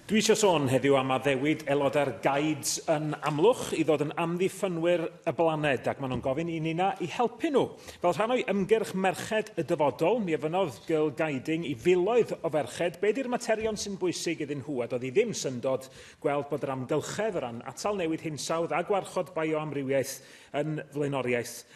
Dwi isio sôn heddiw am addewid aelodau'r Guides yn Amlwch i ddod yn amddiffynwyr y blaned ac maen nhw'n gofyn i ninna i helpu nhw. Fel rhan o'i ymgyrch Merched y Dyfodol, mi ofynnodd Girl Guiding i filoedd o ferched be di'r materion sy'n bwysig iddyn nhw a doedd hi ddim syndod gweld bod yr amgylchedd o ran atal newid hinsawdd a gwarchod bioamrywiaeth yn flaenoriaeth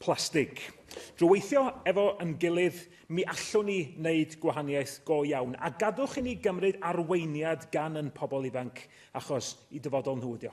plastig. Drwy weithio efo yn gilydd, mi allwn ni wneud gwahaniaeth go iawn. A gadwch i ni gymryd arweiniad gan yn pobl ifanc, achos i dyfodol nhw ydio.